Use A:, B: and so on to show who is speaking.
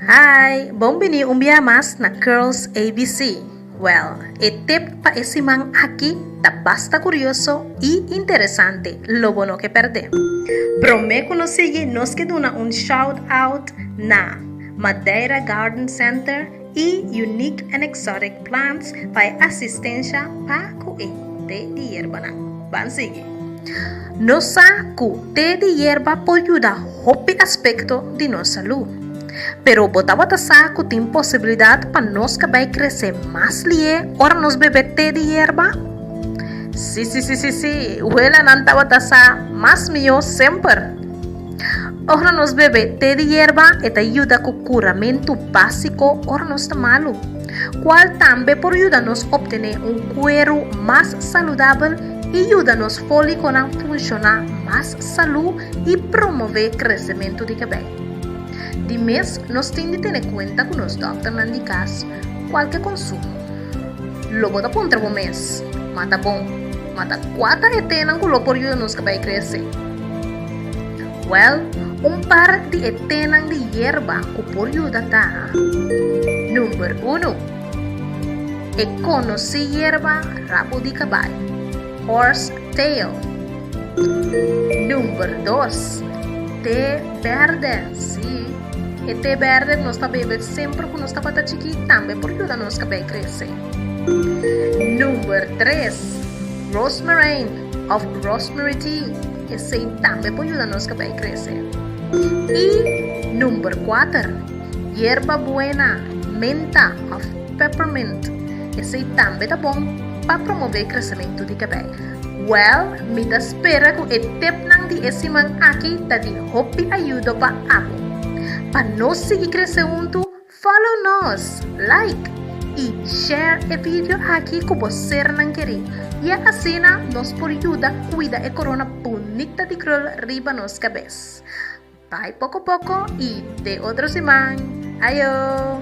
A: Hi, bon bini un bia mas na Curls ABC. Well, e tip pa e siman aki ta basta curioso y interesante, lo bo no ke perde. Prome cu nos sigui nos ke duna un shout-out na Madeira Garden Center, y unique and exotic plants pa e asistencia pa cu e te di yerbanan. Ban sigui. Nos sa cu te di yerba por yuda hopi aspecto di nos salu. Pero bo tabata sa cu tin posibilidad pa nos ka bay crece mas lié ora nos bebe te di yerba? Sí, sí, sí, sí, sí, welanan tabata sa mas mihó semper. Ora nos bebe te di yerba e ta yuda ku kuramentu básiko ora nos ta malu, kual tambe por yuda nos optené un kueru mas saludabel i yuda nos fólikonan funshoná mas salú i promové kresementu di kabei. Di mes nos tin di tene kuenta ku nos dòkternan di kas kual ke konsumo. Lo bo ta puntra bo mes, Mata bon? Ma ta kua ta e tenan ku lo por yuda nos kabei krese? Wèl, un par di e tenan di yerba ku por yuda ta, Number uno, E konosí yerba rabu di kabai, horse tail. Number dos, Te bèrdè, sí, e te bèrdè ku nos ta bebe semper ku nos tabata chikí tambe por yuda nos kabei krese. Number tres, Rosmarijn of Rosemary Tea, esey tambe por yuda nos cabei crece. Y Number kuater, Yerba Buena, Menta of Peppermint, esey tambe ta bon pa promove crecemento di cabei. Well, mi ta spera cu e tipnan di e siman aki ta di hopi ayudo pa abo. Pa nos sigui crece huntu, Follow nos, like y share e video aki cu bo sernan keri y asina nos por yuda cuida e corona bunita di krul riba nos cabes. Bay poco poco y te otro siman. Ayo!